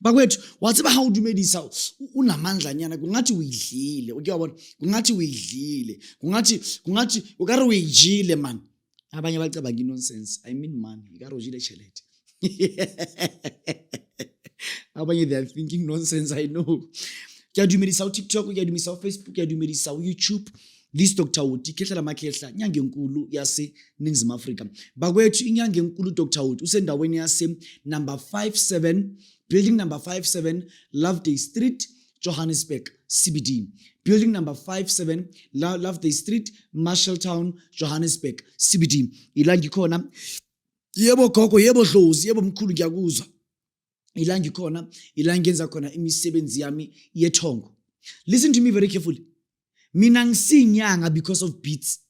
bakwethu wathi ba how dumedisa unamandla nyana kungathi uyidlile ukuyabona kungathi uyidlile kungathi kungathi ukare uyijile man abanye bacabanga inonsense i mean man ikare ujile chelete abanye they are thinking nonsense i know kuyadumedisa utiktok kuyadumedisa ufacebook kuyadumedisa uyoutube This Dr. Uti Khehla Makhehla inyanga enkulu yase Ningizimu Afrika. Bakwethu inyanga enkulu Dr. Uti usendaweni yase number 57 building number 57 Loveday Street Johannesburg CBD. Building number 57 Loveday Street Marshalltown Johannesburg CBD. Ila ngikhona. Yebo gogo, yebo dlozi, yebo mkhulu ngiyakuzwa. ila ngikhona ila ngenza khona imisebenzi yami yethongo listen to me very carefully mina ngisinyanga because of beats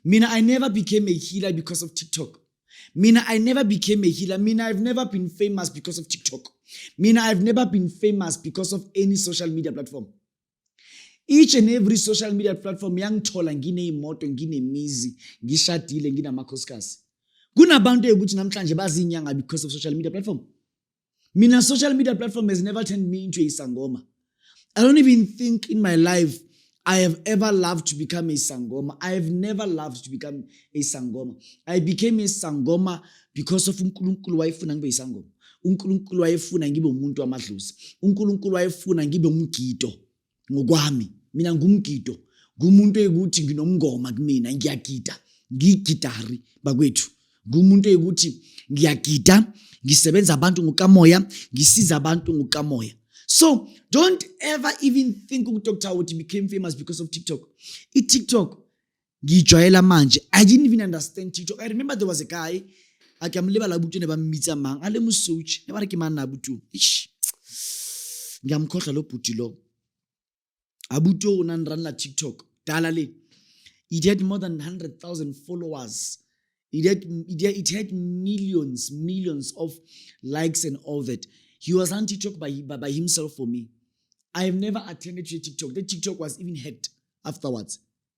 mina i never became a healer because of tiktok mina i never became a healer mina i've never been famous because of tiktok mina i've never been famous because of any social media platform each and every social media platform yangithola ngineyimoto nginemizi ngishadile nginamakhosikazi kunabantu ekuthi namhlanje bazinyanga because of social media platform mina social media platform has never turned me into a sangoma i don't even think in my life I have ever loved to become a Sangoma. I have never loved to become a Sangoma. I became a Sangoma because of uNkulunkulu wayefuna ngibe isangoma uNkulunkulu wayefuna ngibe umuntu wamadlozi uNkulunkulu wayefuna ngibe umgido ngokwami mina ngumgido ngumuntu ekuthi nginomngoma kumina ngiyagida ngigidari bakwethu ngumuntu ekuthi ngiyagida ngisebenza abantu ngokamoya ngisiza abantu ngokamoya so don't ever even think ukuthi okuthiwa ukuthi became famous because of tiktok itiktok ngiyijwayela manje i didn't even understand tiktok i remember there was a guy a ke amlebala abutu ne ba mmitsa mang a le mosouch ne ba re ke mang na abutu ish ngiyamkhohlwa lo bhuti lo abutu o na nranela tiktok dala le it had more than 100000 followers it had, it had, it had millions millions of likes and all that he was on tiktok by, by, by himself for me i have never attended to tiktok the tiktok was even hacked afterwards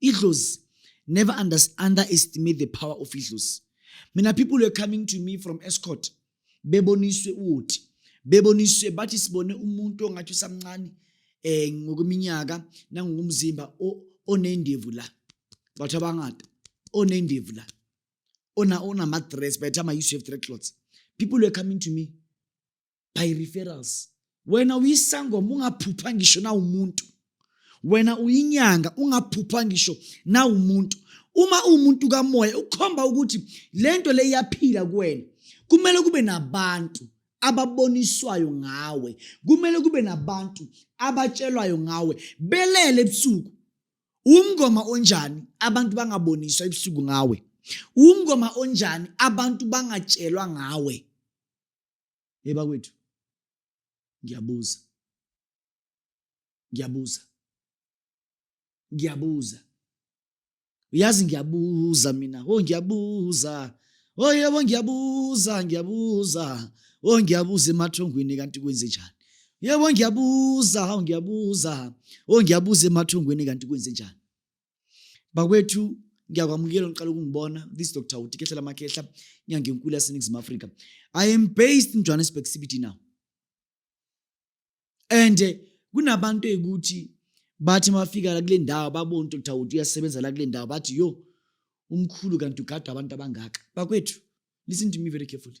idlozi never underestimate the power of idlozi mina people were coming to me from escort beboniswe uthi beboniswe bathi sibone umuntu ongathi usamncane eh ngokweminyaka nangokumzimba onendevu la bathu abangada onendevu la ona ona madress by the time i used to have dreadlocks people were coming to me by referrals wena uyisangoma ungaphupha ngisho nawumuntu wena uyinyanga ungaphupha ngisho nawumuntu uma uwumuntu kamoya ukhomba ukuthi lento le iyaphila kuwena kumele kube nabantu ababoniswayo ngawe kumele kube nabantu abatshelwayo ngawe belele ebusuku umngoma onjani abantu bangaboniswa ebusuku ngawe umngoma onjani abantu bangatshelwa ngawe hey bakwethu ngiyabuza ngiyabuza ngiyabuza uyazi ngiyabuza mina oh ngiyabuza oh yebo ngiyabuza ngiyabuza oh ngiyabuza emathongweni kanti kwenze njani yebo ngiyabuza oh ngiyabuza oh ngiyabuza emathongweni kanti kwenze njani bakwethu ngiyakwamukela ngiqala ukungibona this dr uti kehlela makhehla inyanga enkulu yaseningizimu afrika i am based in johannesburg cbt now and eh, kunabantu eyikuthi bathi mafika la kule ndawo babona dr uti uyasebenza la kule ndawo bathi yo umkhulu kanti ugada abantu abangaka bakwethu listen to me very carefully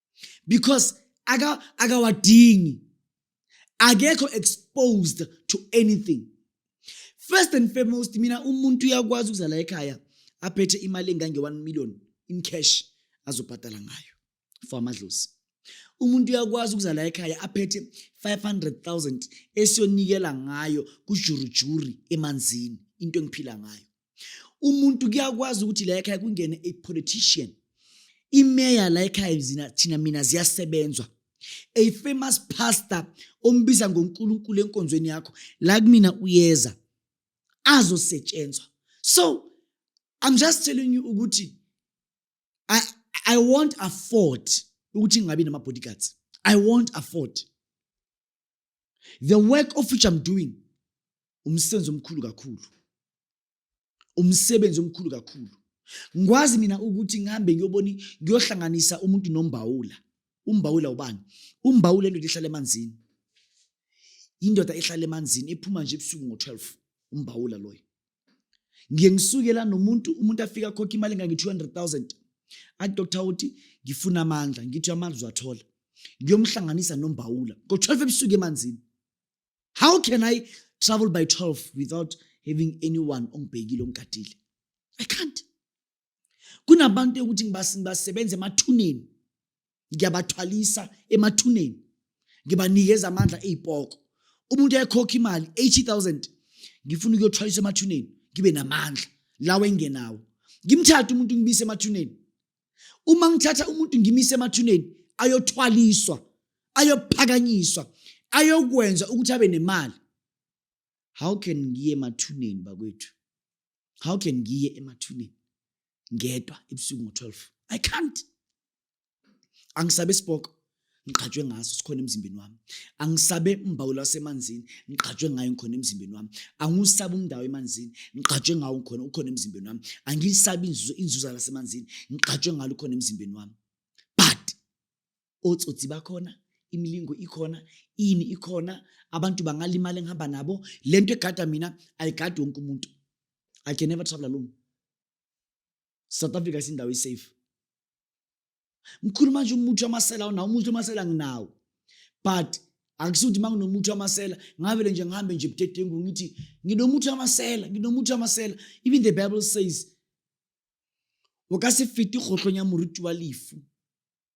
because akawadingi akekho exposed to anything first and foremost mina umuntu uyakwazi ukuzala ekhaya aphethe imali engange-1 million in cash azobhadala ngayo for amadlozi umuntu uyakwazi ukuzala ekhaya aphethe 500,000 esiyonikela ngayo kujurujuri emanzini into engiphila ngayo umuntu kuyakwazi ukuthi la ekhaya kungene a politician imeya la ekhaya zina thina mina ziyasebenzwa a famous pastor ombiza ngoNkulunkulu enkonzweni yakho la kumina uyeza azosetshenzwa so i'm just telling you ukuthi i i won't afford ukuthi ngingabi nama bodyguards i won't afford the work of which I'm doing umsebenzi omkhulu kakhulu umsebenzi omkhulu kakhulu ngikwazi mina ukuthi ngihambe ngiyobona ngiyohlanganisa umuntu nombawula umbawula ubani umbawula indoda ehlala emanzini indoda ehlala emanzini ephuma nje ebusuku ngo-12 umbawula loyo ngiye ngisuke la nomuntu umuntu afika khokha imali engange-200,000 athi doctor uthi ngifuna amandla ngithi amandla uzwathola ngiyomhlanganisa nombawula ngo-12 ebusuku emanzini how can i travel by 12 without having anyone ongibhekile ongigadile i can't kunabantu ukuthi ngibasebenza emathuneni ngiyabathwalisa emathuneni ngibanikeza amandla ey'poko umuntu ekhokha imali 80000 ngifuna ukuyothwalisa emathuneni ngibe namandla lawo engenawo ngimthathe umuntu ngibise emathuneni uma ngithatha umuntu ngimisa emathuneni ayothwaliswa ayophakanyiswa ayokwenza ukuthi abe nemali how can ngiye emathuneni bakwethu how can ngiye emathuneni ngedwa ebusuku ngo-12 i can't angisabe isiboko ngiqhatshwe ngaso sikhona emzimbeni wami angisabe umbawula wasemanzini ngiqhatshwe ngayo ngikhona emzimbeni wami angiwusabe umndawo emanzini ngiqhatshwe ngawo ngikhona ukhona emzimbeni wami angiyisabi inzuzo inzuza lasemanzini ngiqhatshwe ngalo ukhona emzimbeni wami but otsotsi bakhona imilingo ikhona ini ikhona abantu bangalimali engihamba nabo le nto egada mina ayigadi wonke umuntu i can never travel alone south africa isindawo isafe mkhuluma nje umuthi wamasela unawo umuthi wamasela nginawo but akusuthi ukuthi manginomuthi wamasela ngavele nje ngihambe nje budedengu ngithi nginomuthi wamasela nginomuthi wamasela even the bible says o ka se fete kgotlhong ya moruti wa lefu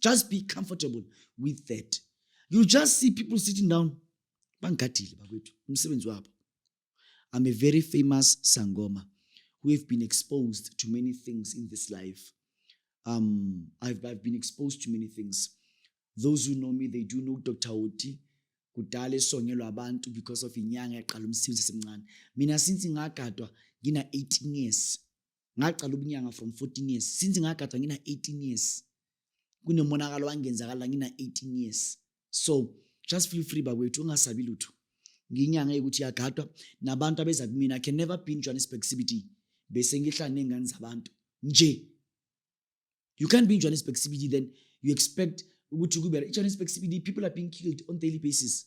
just be comfortable with that you just see people sitting down bangigadile bakwethu umsebenzi wabo i'm a very famous sangoma who have been exposed to many things in this life um, I've, I've been exposed to many things those who know me they do know dr oti kudala esongelwa abantu because of inyanga yaqala umsebenzi esemncane mina since ngagadwa ngina-18 years ngaqala ubunyanga from 14 years since ngagada ngina 18 years kunemonakalo wangenzakala ngina 18 years so just feel free bakwethu ungasabi lutho nginyanga yokuthi yagadwa nabantu abeza kumina can never be in Johannesburg CBD bese ngihlala nengane zabantu nje you can't be in Johannesburg CBD then you expect ukuthi kube Johannesburg CBD people are being killed on daily basis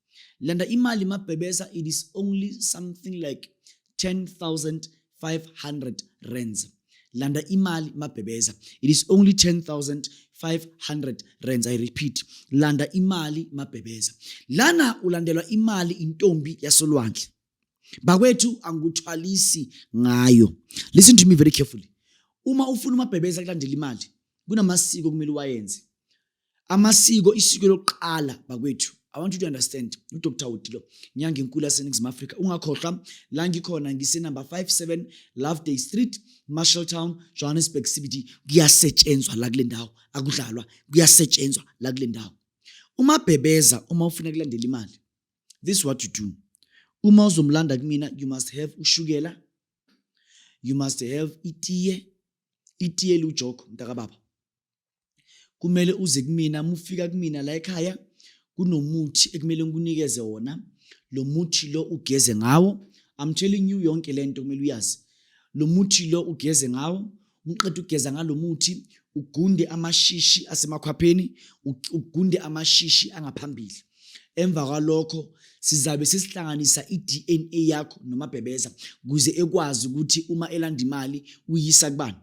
landa imali mabhebesa it is only something like 10500 rands landa imali mabhebeza it is only 10500 rands i repeat landa imali mabhebeza lana ulandelwa imali intombi yasolwandle bakwethu angikuthwalisi ngayo listen to me very carefully uma ufuna umabhebeza kulandela imali kunamasiko kumele uwayenze amasiko isiko lokuqala bakwethu I want you to understand uDr Wudilo nyanga enkulu yaseNingizimu Afrika ungakhohlwa la ngikhona ngise number 57 Loveday Street Marshalltown Johannesburg CBD kuyasetshenzwa la kule ndawo akudlalwa kuyasetshenzwa la kule ndawo uma bhebeza uma ufuna kulandela imali this is what you do uma uzomlanda kumina you must have ushukela you must have itiye itiye lujoko mntakababa kumele uze kumina mufika kumina la ekhaya kunomuthi ekumele ngikunikeze wona lo muthi lo ugeze ngawo i'm telling you yonke lento kumele uyazi lo muthi lo ugeze ngawo umqeda ugeza ngalomuthi ugunde amashishi asemakhwapheni ugunde amashishi angaphambili emva kwalokho sizabe sesihlanganisa i-DNA yakho nomabhebeza kuze ekwazi ukuthi uma elanda imali uyisa kubani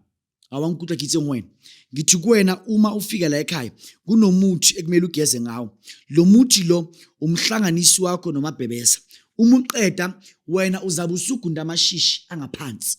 awangikhutha kithi ngwena ngithi kuwena uma ufika la ekhaya kunomuthi ekumele ugeze ngawo lo muthi lo umhlanganisi wakho nomabhebeza uma uqeda wena uzabe usugunda amashishi angaphansi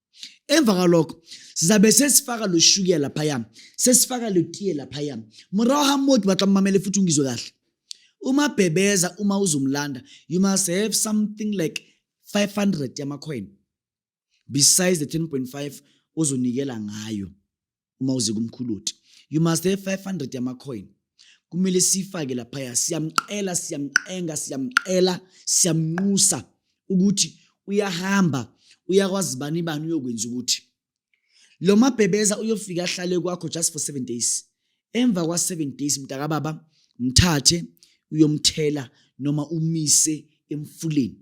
emva kwalokho sizabe sesifaka lo shukiya laphaya sesifaka lo tiye laphaya morago ga moo ke batla mmamele futhi ungizwe kahle uma bhebeza uma uzomlanda you must have something like 500 yamacoin besides the 10.5 ozonikela ngayo uma uze kumkhuluti you must have 500 yamacoin kumele siyifake laphaya siyamqela siyamqenga siyamqela siyamnqusa ukuthi uyahamba uyakwazi bani bani uyokwenza ukuthi lo mabhebeza uyofika ahlale kwakho just for 7 days emva kwa 7 days mntaka baba mthathe uyomthela noma umise emfuleni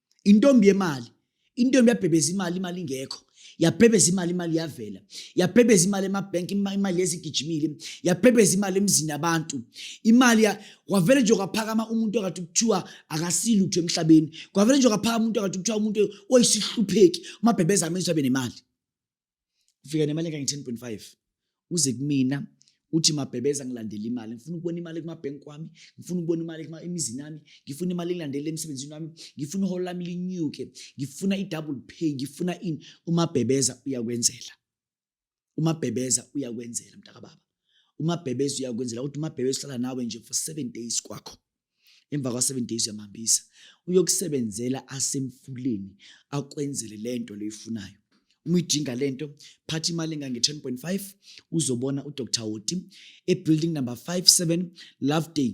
intombi yemali intombi yabhebeza imali imali ingekho yabhebeza imali imali yavela yabhebeza imali emabhenki imali yezigijimile yabhebeza imali emzini abantu imali kwavele nje kwaphakama umuntu okade kuthiwa akasilutho emhlabeni kwavele nje kwaphakama umuntu okade kuthiwa umuntu oyisihlupheki umabhebeza amezwe abe nemali ufika nemali engange-10.5 uze kumina uthi mabhebeza ngilandele imali ngifuna ukubona imali kumabhenki wami ngifuna ukubona imali emizini yami ngifuna imali ngilandele emsebenzini wami ngifuna iholo lami linyuke ngifuna i-double pay ngifuna ini umabhebeza uyakwenzela umabhebeza uyakwenzela mntakababa umabhebeza uyakwenzela ukuthi umabhebeza uhlala nawe nje for seven days kwakho emva kwa-seven days uyamhambisa uyokusebenzela asemfuleni akwenzele le nto leyifunayo uma uyidinga le nto phatha imali engange-ten point five uzobona udr woti ebuilding number five seven love day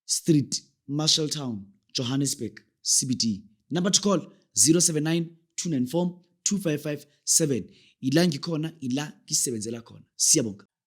street marshall town johannesburg cbd number to call 079 294 2557 ila ngikhona ila ngisebenzela khona siyabonga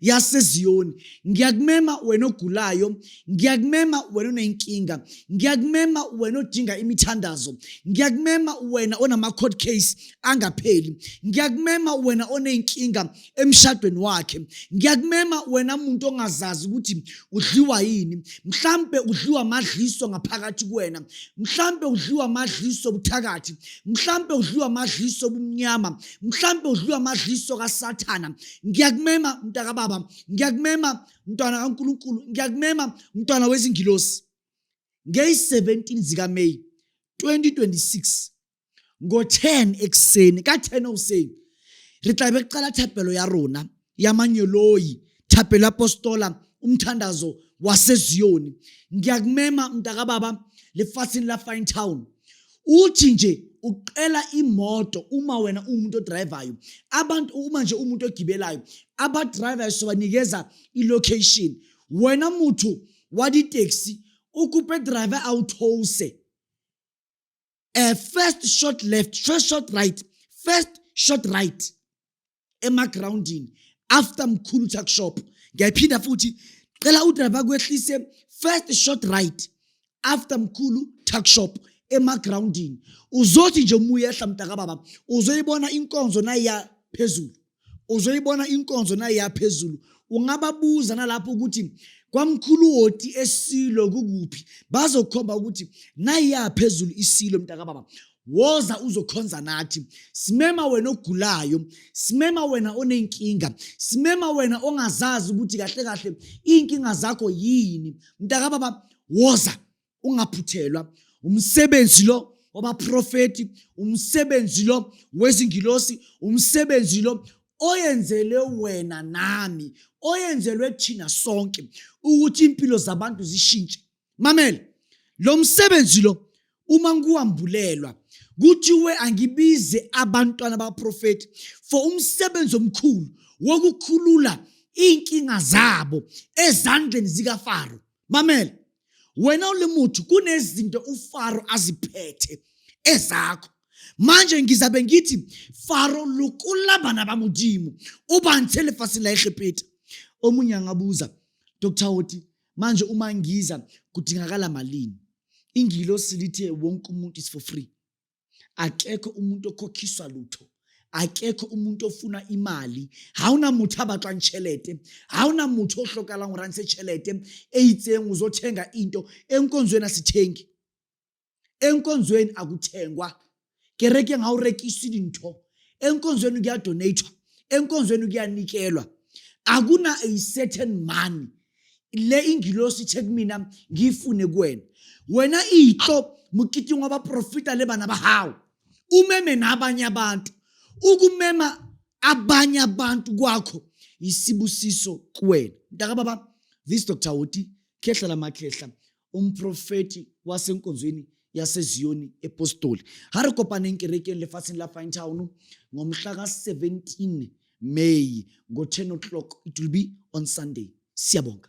yaseZiyoni ngiyakumema wena ogulayo ngiyakumema wena onenkinga ngiyakumema wena odinga imithandazo ngiyakumema wena onama-court case angapheli ngiyakumema wena onenkinga emshadweni wakhe ngiyakumema wena muntu ongazazi ukuthi udliwa yini mhlampe udliwa amadliso ngaphakathi kuwena mhlampe udliwa amadliso obuthakathi mhlampe udliwa amadliso obumnyama mhlampe udliwa amadliso kasathana ngiyakumema mntakababa ngiyakumema mntwana kankulunkulu ngiyakumema mntwana wezingilosi ngeyi-17 zikameyi 2026 ngo-10 ekuseni ka-10 okuseni re tlabe re qala thapelo ya rona ya manyoloyi thapelo ya postola umthandazo waseziyoni ngiyakumema mntakababa lefatsheng la fine town uthi nje ucela imoto uma wena uwumuntu odrivayo abantu uma nje umuntu ogibelayo abadrivayo sobanikeza ilocation wena muthu walitaxi ukupe driver awuthose a first shot left first shot right first shot right emagroundini after mkhulu tuck shop ngiyayiphinda futhi cela udriver kwehlise first short right after mkhulu tuck shop emagroundini uzothi nje uma uyehla mntakababa uzoyibona inkonzo nayiya phezulu uzoyibona inkonzo nayiya phezulu ungababuza nalapho ukuthi kwamkhuluwoti esilo kukuphi bazokhomba ukuthi nayiyaphezulu isilo mntakababa woza uzokhonza nathi simema wena ogulayo simema wena onenkinga simema wena ongazazi ukuthi kahle kahle iy'nkinga zakho yini mntakababa woza ungaphuthelwa umsebenzi lo wabaprofethi umsebenzi lo wezingilosi umsebenzi lo oyenzelwe wena nami oyenzelwe thina sonke ukuthi impilo zabantu zishintshe mamela lo msebenzi lo uma ngiwambulelwa kuthiwe angibize abantwana baprofethi for umsebenzi omkhulu wokukhulula iy'nkinga zabo ezandleni zikafaro mamela wena ulimuthi kunezinto ufaro aziphethe ezakho manje ngizabe ngithi faro lukula bana ba modimo o bantshe lefatshe la egepeta o monyang a buza dr hoti manje uma ngiza kudingakala malini ingilosi lithe wonke umuntu is for free akekho umuntu okhokhiswa lutho akekho umuntu ofuna imali ha ona motho a batlwang tšhelete ha ona motho o hlokalang go rantse tšhelete e itseng o zo tšhenga into e nkonzo ena se tšhengi enkonzweni akuthengwa kereke ngawurekisi dintho enkonzweni kuyadonathwa enkonzweni kuyanikelwa akuna a certain money le ingilosi ithe kumina ngiyifune kuwena wena iyihlo mukitingo abaprofita le bana bahawu umeme nabanye abantu ukumema abanye abantu kwakho yisibusiso kuwena mntakababa this dr hoti khehla lamakhehla umprofeti wasenkonzweni yaseZiyoni ePostoli. Ha re kopaneng kerekeng lefatsheng la Fine Town ngomhla ka-17 May ngo-10 o'clock. It will be on Sunday. Siyabonga.